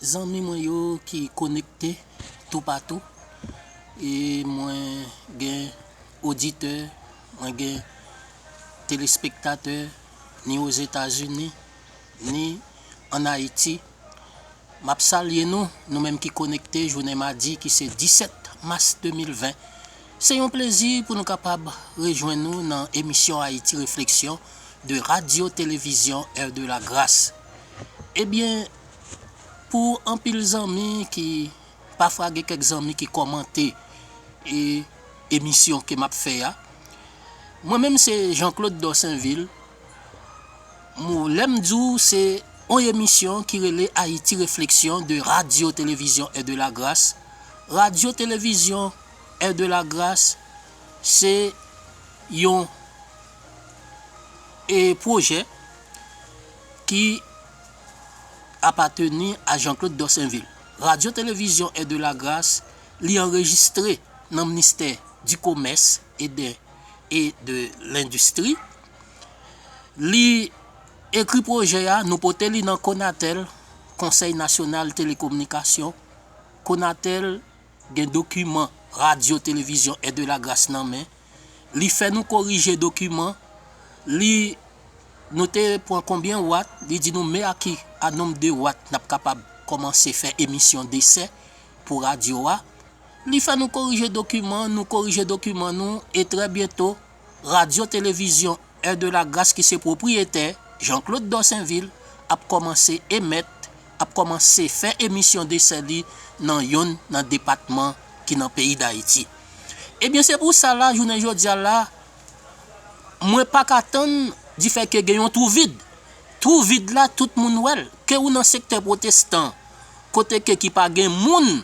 Zanmi mwen yo ki konekte toupatou e mwen gen oditè, mwen gen telespektatè ni Ozetazini, ni an Ayiti. M ap salye nou, nou menm ki konekte jounen madi ki se 17 mas 2020. Se yon plezi pou nou kapab rejwenn nou nan emisyon Haïti Réflexion de Radio Télévision Air de la Grace. Ebyen pou anpil zanmi ki pafwa gen kèk zanmi ki kòmante e emisyon ke map fè a mwen menm se Jean Claude Dorsainville mou lèm di w se yon emisyon ki rele Haïti Réflexion de Radio Télévision Heure de la Grâce Radio Télévision Heure de la Grâce se yon e pwojè. ki apateni a Jean-Claude Dorsainville. Radyo Televizyon Aide de la Grace li anrejistre nan Mnistè di Komès e de e de Lendistri. Li ekri pwojè a, nou pote li nan Conatel, Konsèy Nasyonal Telekominikasyon. Conatel gen dokiman Radyo Televizyon Aide de la Grace nan men. li fè nou korije dokiman li nou te pran konbyen watt li di nou me a ki a nonb de watt nap kapab kòmanse fè emisyon desè pou radyo a li fè nou korije dokiman nou korije dokiman nou e trè byento radyo televizyon Air de la Grace ki se pwopriyetè Jean-Claude Dorsainvil ap kòmanse emèt, ap kòmanse fè emisyon desè li nan yonn nan depatman ki nan peyi Dayiti. Ebyen se pou sa la jounen jodi a la mwen pa ka tann difè ke gen yon twou vid. Twou vid la tout moun wè l, ke ou nan sektè pwotestan kote ke ki pa gen moun.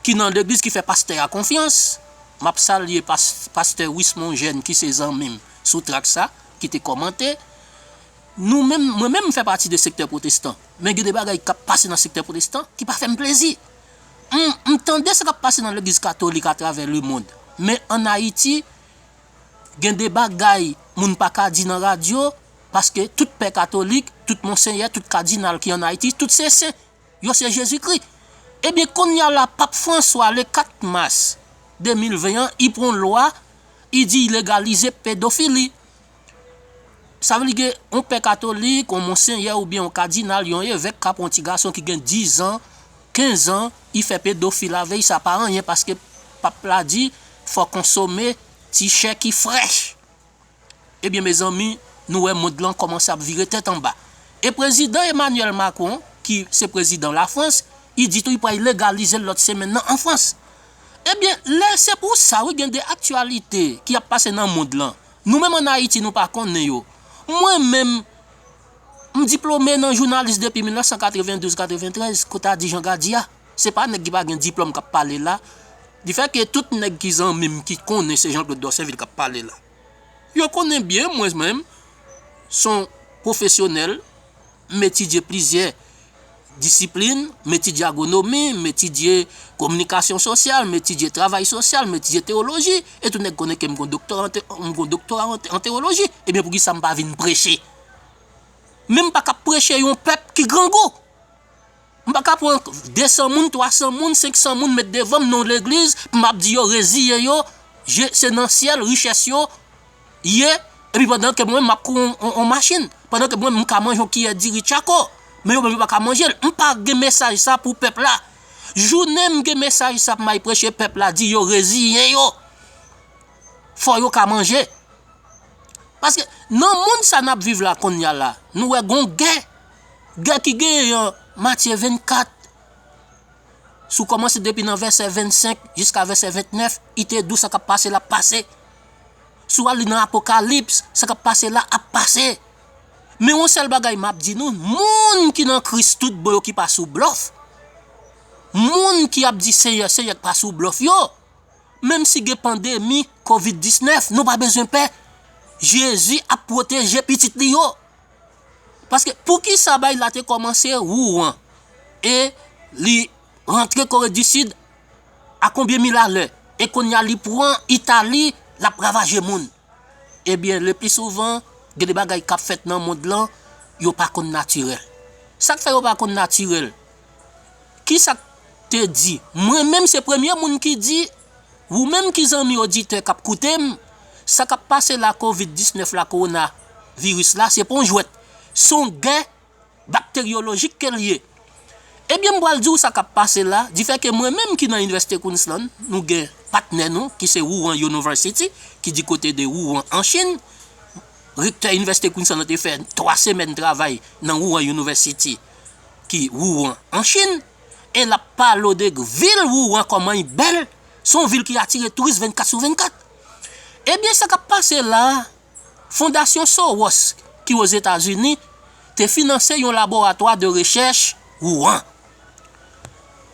ki nan legliz ki fè pastè a konfyans map salye pastè wismon jèn ki se zanmim sou trak sa ki te kòmante nou menm mwen menm fè pati de sektè pwotestan men gen de bagay kap pase nan sektè pwotestan ki pa fèm plezi m tande sa kap pase nan legliz katolik a travè le mond men an ayiti gen de bagay moun pa ka di nan radyo paske tout pè katolik tout monsenyè tout kadinal ki an ayiti tout se sen yo se Jezikri. Ebyen konnya la Pap Franswa le 4 Mas 2020 an i pran yon lwa i di i legalize pedofili. Sa vle di gen yon pè katolik, yon monsenyè oubyen yon kadinal, yon evèk ka pran yon ti gason ki gen 10 zan, 15 zan i fè pedofil avè i sa pa anyen paske Pap la di fò konsome ti chè ki frèch. Ebyen mezanmi nou wè mond lan kòmanse ap vire tèt anba e prezidan Emmanuel Macron ki se prezidan la France i di tou i pral legalizel lòt semèn nan an France ebyen lè se pou sa wi gen de aktyalite ki ap pase nan mond lan nou menm an Ayiti nou pa konnen yo mwen menm m diplome nan jounalis depi 1992 93 kou ta di Jean Gardy a. Se pa nèg ki pa gen diplòm k ap pale la. Di fè ke tout nèg ki zanmi m ki konnen se Jean Claude Dorcevil k ap pale la. Yo konnen byen mwen menm s on pwofesyonèl, m etidye plizyè disiplin, m etidye agwonomi, m etidye kominikasyon sosyal, m etidye travay sosyal, m etidye tewoloji, e tout nèg konnen ke m gen yon doktora an tewoloji. Ebyen pou ki sa m pa vin preche? Men m pa ka preche yon pèp ki grangou. M paka pran 200 moun, 300 moun, 500 moun met devanm nan yon legliz pou map di yo reziyen yo je se nan syèl richès yo ye epi pandan ke mwen menm map kou yon machin, pandan ke mwen menm m ka manje yon kiyè diri tchako men yo menm yo paka manjel. M pa gen mesaj sa pou pèp la. Jounen m gen mesaj sa pou may preche pèp la di yo reziyen yo fò yo ka manje. Paske nan mond sa nap viv la konnya la nou wè gon gè Gè ki genyen an Matye 24, si w kòmanse depi nan vèsè 25 jiska vèsè 29, i te dou sa k ap pase l ap pase. Si w al li nan Apokalips, sa k ap pase la ap pase. Men yon sèl bagay m ap di nou, moun ki nan Kris tout bon yo ki pa sou blòf, moun ki ap di Senyè, Senyè ki pa sou blòf yo, menm si gen pandemi covid 19, nou pa bezwen pè, Jezi ap pwoteje pitit li yo. Paske poukisa bagy la te komanse Rouen e li rantre Kore di Sid a konbyen mil alè e konnya li pran Itali lap ravaje moun. Ebyen le pli souvan gen de bagay kap fèt nan mond lan yo pa konn natirèl. Sak fè yo pa konn natirèl? Kisak te di? Mwen menm se premye moun ki di Wou menm ki zanmi oditè kap koutem, sa kap pase la covid 19 la kowona viris la se pa yon jwèt, son gè bakteryolojik kel ye. Ebyen m pral diw sa kap pase la, difè ke mwen menm ki nan inivèsite Queensland, nou gen patnè nou ki se Wuhan Yonoversity ki di kote de Wuhan an Chine, rektè inivèsite Queensland lan te fè 3 semèn travay nan Wuhan Yonoversity ki Wuhan an Chine. e l ap pale w de vil Wuhan kòman li bèl, se yon vil ki atire touris 24 sou 24. Ebyen sa k ap pase la a, Fondasyon Soros ki Ozetazini te finanse yon laboratwa de rechèch Wuhan.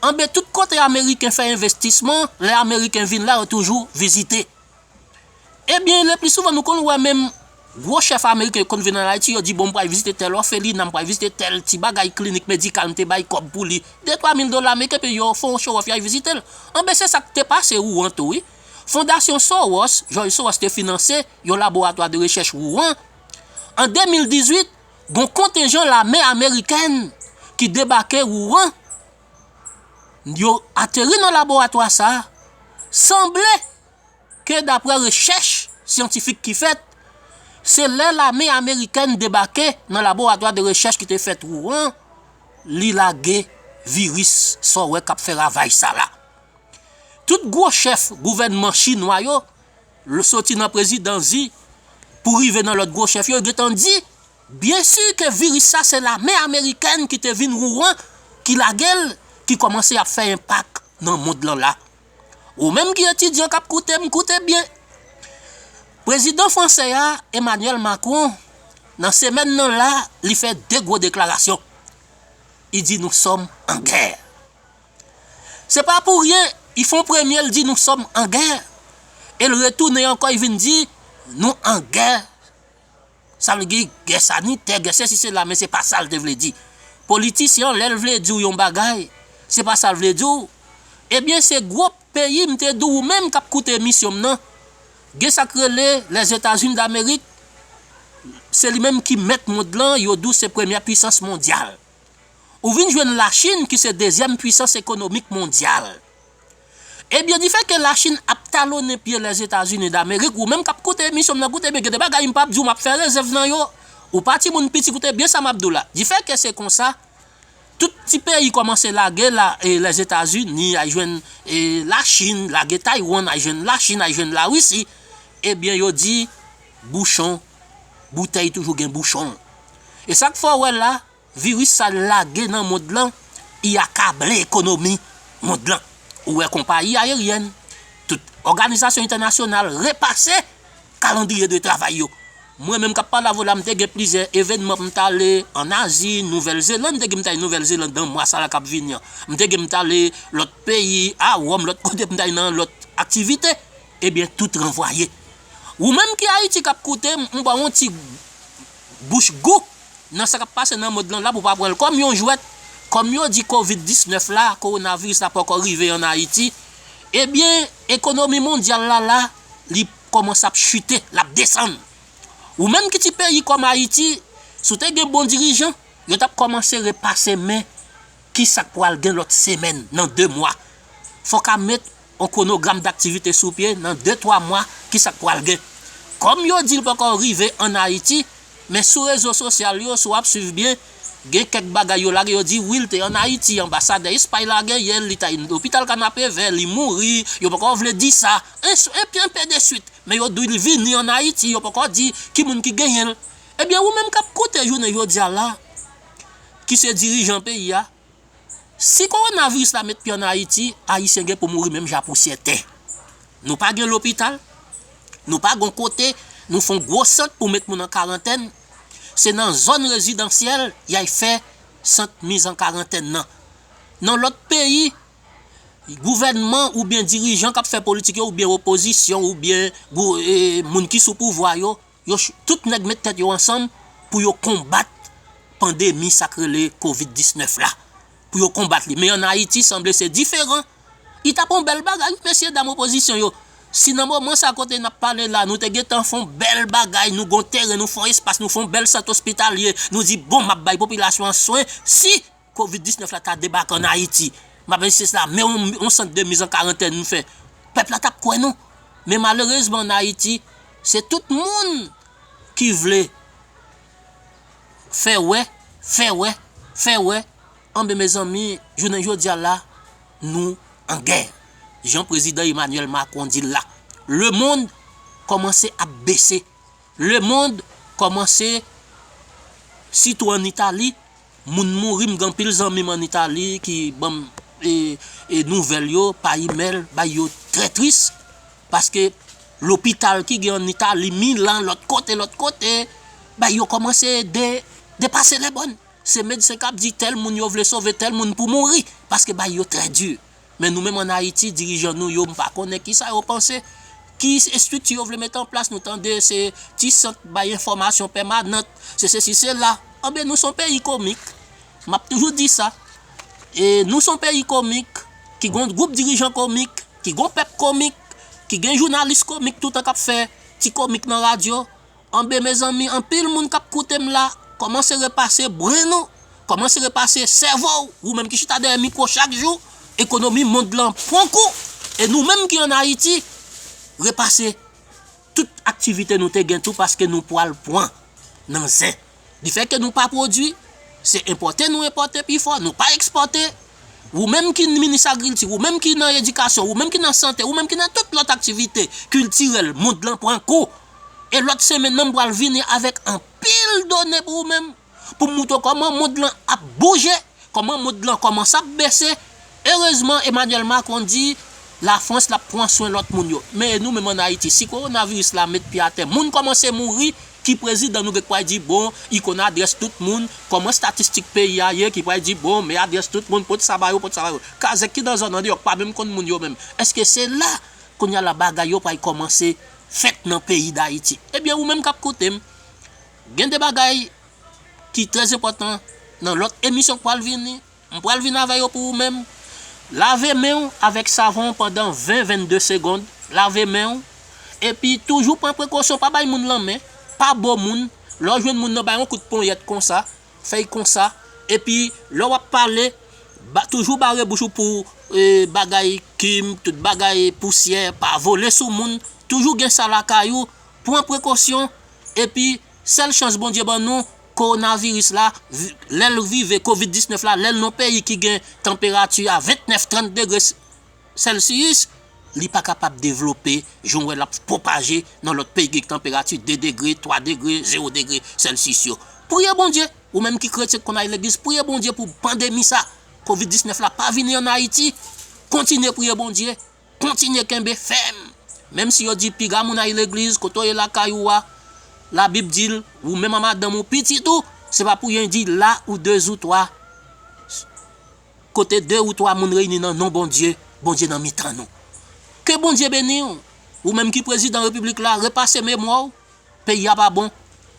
Anben tout kote ameriken fè envestisman, lè ameriken vin la yo toujou vizite. Ebyen lepli souvan nou konn wè menm gwo chèf ameriken yo konn vin an Ayiti yo di bon m pral vizite tèl òfelina, m pral vizite tèl ti bagay klinik medikal m te bay kòb pou li, de twa mil dola ameriken epi yo fon chowòf y al vizite l. Anben se sa k te pase Wouan tou wi. Fondasyon Sowòs, Jòj Sowòs te finanse yon laboratwa de rechèch Wouan. An 2018, gon kontenjan lame amerikèn ki debake Wouan, yo ateri nan laboratwa sa a, sanble. ke daprè rechèch syantifik ki fèt, se lè lame amerikèn debake nan laboratwa de rechèch ki te fèt Wuhan, li lage viris sa w wè k ap fè ravaj sa la. Tout gwo chèf gouvènman chinwa yo, soti nan prezidan Xi pou rive nan lòt gwo chèf yo, yo gen tan di, byen si ke viris sa se lame amerikèn ki te vin Wuhan ki lage l, ki kòmanse ap fè enpak nan mond lan la. Ou menm ki etidyan kap koute m koute byen. Prezidan franse a Emmanuel Macron nan semèn nan la li fè 2 gwo deklarasyon. I di nou sòm an gè. Se pa pou ryen i fon premye l di nou sòm an gè e l retounen ankò i vin di nou an gè. Sa vle di gè sanitè, gè sesi sela men se pa sa l te vle di. Politisyen an lè l vle di w yon bagay, se pa sa l vle di w. Ebyen se gwo peyi m te di w ou menm k ap koute emisyon m nan, gen sa k rele Lèzetazini Damerik, se li menm ki mèt mond lan, yo di w se premyè puisans mondyal. Ou vin jwenn Lachin ki se dezyèm puisans ekonomik mondyal. Ebyen difè ke la chine ap talonnen pye lèzetazini damerik ou menm kap koute emisyon m nan koute byen gen de bagay m pap di w map fè rezèv nan yo ou pa timoun piti koute byen sa map di w la difè ke se konsa tout ti peyi kòmanse lage la lèzetazini ay jwenn la chine lage taywann ay jwenn la chine ay jwenn la risi ebyen yo di bouchon boutèy toujou gen bouchon e sak fè w wè la. Virus sa lage nan mond lan i akable ekonomi mond lan. Ou wè konpayi ayeryèn, tout òganizasyon entènasyonal repase kalandriye de travay yo. Mwen menm kap pale avw la m te gen plizyè evenman pou m t ale an Azi, Nouvèl Zeland, m te gen pou m t ale Nouvèl Zeland nan mwa sa la kap vini an. M te gen pou m t ale lòt peyi, a Ròm, lòt kote pou m t ale nan lòt aktivite. Ebyen tout ranvwaye. Ou menm ki Ayiti kap koute m, m baw yon ti Bouch gou! Nan sa k ap pase nan mond lan la pou w pa pran l kòm yon jwèt. Kòm yo di kovid 19 la, kowonaviris la poko rive an Ayiti, ebyen ekonomi mondyal la la li kòmanse ap chite, l ap desann. Ou menm ki ti peyi kòm Ayiti, si w te gen bon dirijan, yo t ap kòmanse repase men Kisak pwal gen lòt semèn nan 2 mwa? Fò ka met on kwonogram daktivite sou pye nan 2 twa mwa kisak pwal gen? Kòm yo dil poko rive an Ayiti, men sou rezo sosyal yo si wap swiv byen gen kèk bagay yo lage yo di wi l te an Ayiti anbasadè Espay la gen yè l li ta yn lopital kanapevè li mouri yo poko vle di sa enpe de swit men yo dil vini an Ayiti yo poko di ki moun ki genyen l ebyen ou menm kap koute jounen jodia la ki se dirijan peyi a, si kowonaviris la met pye an Ayiti, Ayisyen gen pou mouri menm jan pousyè tè. Nou pa gen lopital, nou pa gon kote nou fon gwo sant pou met moun an karantèn, se nan zòn rezidansyèl yay fè sant miz an karantèn nan. Nan lòt peyi, gouvènman oubyen dirijan k ap fè politik yo oubyen opozisyon oubyen moun ki sou pouvwa yo Yo chou tout nèg met tèt yo ansanm pou yo konbat pandemi sak rele covid 19 la pou yo konbat li men an ayiti sanble se diferan li tap yon bèl bagay wi mesye dam opozisyon yo si nan moman sa kote nap pale la nou te gentan fon bèl bagay nou gon teren nou fon espas nou fon bèl sant ospitalye nou di bon map bay popilasyon an swen si Covid 19 la ta debake an Ayiti, map ensiste sla, men yon sant de miz an karantèn nou fè, pèp la tap kwè nou. Men malerezman an Ayiti, se tout moun ki vle fè wè, fè wè, fè wè, anben mezanmi, jounen jodi a la, nou an gè. Jan prezidan Emmanuel Macron di l la, le mond kòmanse ap bese. Le mond komanse sitou an Itali moun mouri m gen anpil zanmi m an Itali ki banm nouvèl yo pa email bay yo trè tris paske lopital ki gen an Itali Milan lòt kote lòt kote bagay yo komanse depase lè bòn se medsen kap di tèl moun yo vle sove tèl moun pou mouri paske bagay yo trè di. Men nou menm an Ayiti dirijan nou yo m pa konnen kisa yo panse, ki estrikti yo vle mete an plas nou tande se ti sant bay enfòmasyon pèmanant, se sesi sela, anben nou son peyi komik, m ap toujou di sa, nou son peyi komik, ki gon gwoup dirijan komik, ki gon pèp komik, ki gen jounalis komik toutan k ap fè ti komik nan radyo, Anbe mezanmi anpil moun kap koutem la kòmanse repase brain ou kòmanse repase sèvo ou menm ki chita dèyè mikwo chak jou ekonomi mond lan pwan kou e nou menm ki an ayiti repase tout aktivite nou te gen tou paske nou pwal pwan nan zen. Di fèt ke nou pa pwodwi, se enpòte nou enpòte pi fò, nou pa ekspòte. Wou menm ki minis agrilti, wou menm ki nan edikasyon, wou menm ki nan sante, wou menm ki nan tout lòt aktivite kiltirèl, mond lan pran kou. E lòt semenn nan m pral vini avèk anpil done pou wou menm, pou m moutre w kòman mond lan ap bouje. Kòman moud lan kòmanc ap bese, erezman Emmanuel Macron di la France lap pran swen lòt moun yo. Men e nou menm an Ayiti si korona viris la met pye atè moun kòmanse mouri ki prezidan nou gen k pway di bon i konn adrès tout moun, kòman statistik peyi a ye ki pway di bon men adrès tout moun pot sa ba yo pot sa ba yo. Kazèk ki nan zòn andeyò k pa menm konn moun yo menm eske se la kounya la bagay yo pway kòmanse fèt nan peyi dayiti. Ebyen ou menm kap koute m gen de bagay ki trè enpòtan nan lòt emisyon k pral vini, m pral vin avè yo pou ou menm. Lave men w avèk savon pandan 20, 22 segond, lave men w, epi toujou pran prekosyon pa bay moun lanmen, pa bo moun, lè w jwenn moun nan bay yon kout ponyèt konsa, fèy konsa, epi lè wap pale ba toujou bare bouch ou pou bagay kim, tout bagay pousyè pa vole sou moun, toujou gen sa lakay ou, pran prekosyon, epi Sèl chans Bondye ban nou Kowonaviris la lè l rive Kovid 19 la lè l nan peyi ki gen tanperati a 29, 30 degre sèlsiyis li pa kapab devlope jan w wè l ap pwopaje nan lòt peyi ki gen tanperati 2 degre, 3 degre, zewo degre sèlsiyis yo. Priye Bondye! Ou menm ki kretyen ki konn ale legliz priye Bondye pou pandemi sa Kovid 19 la pa vini an Ayiti Kontinye priye Bondye! Kontinye kenbe fèm! Menm si yo di piga moun ay legliz, kote w ye lakay ou a, labib di l, ou menm a madanm ou, pitit ou, se pa pou yen di la ou de zou twa, kote de ou twa moun reyini nan non Bondye, Bondye nan mitan nou. Ke Bondye beni w! Ou menm ki prezidan repiblik la, repase memwa w! Peyi a pa bon,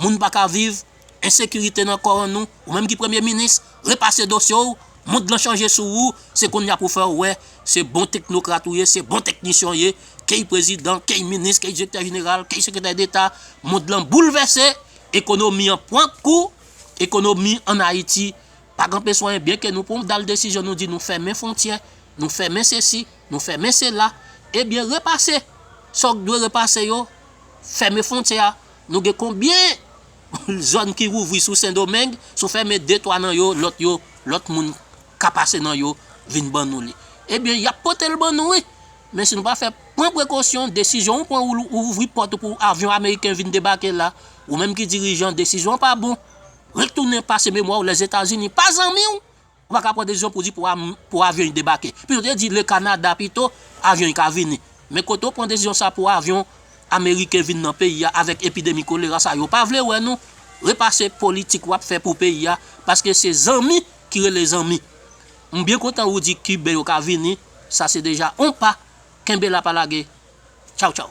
moun pa ka viv, ensekirite nan kò an nou, ou menm ki premye minis, repase dosye w, mond lan chanje sou ou, se konnya pou fè w wè se bon teknokrat ou ye, se bon teknisyen w ye, key prezidan, key minis, key direktè jeneral, key sekretè deta, mond lan boulvèse, ekonomi an pran kou, ekonomi an Ayiti pa kanpe swayen byen ke nou pran dal desizyon nou di nou fèmen fwontyè, nou fèmen sesi, nou fèmen sela, ebyen repase sa w dwe repase yo. Fèmen fwontyè a, nou gen konbyen zòn ki ouvri sou sendomeng, si w fèmen de twa nan yo, lòt yo, lòt moun ka pase nan yo vin ban nou li. Ebyen y ap pote l ban nou wi, men si nou pa fè pran prekosyon, desizyon ou pran ou ouvri pòt ou pou avyon ameriken vin debake la, ou menm ki dirijan desizyon an pa bon, retounen pase memwa w Lèzetazini pa zanmi w, Ou pa ka pran desizyon pou di pou avyon y debake. Pito te di le Canada pito avyon y ka vini. Men kote ou pran desizyon sa pou avyon ameriken vin nan peyi a avèk epidemi kolera sa yo pa vle wè nou. Repase politik wap fè pou peyi a paske se zanmi ki rele zanmi. M byen kontan ou di kiben yo ka vini sa se deja on pa kenbe la pa lage. Tchaw tchaw.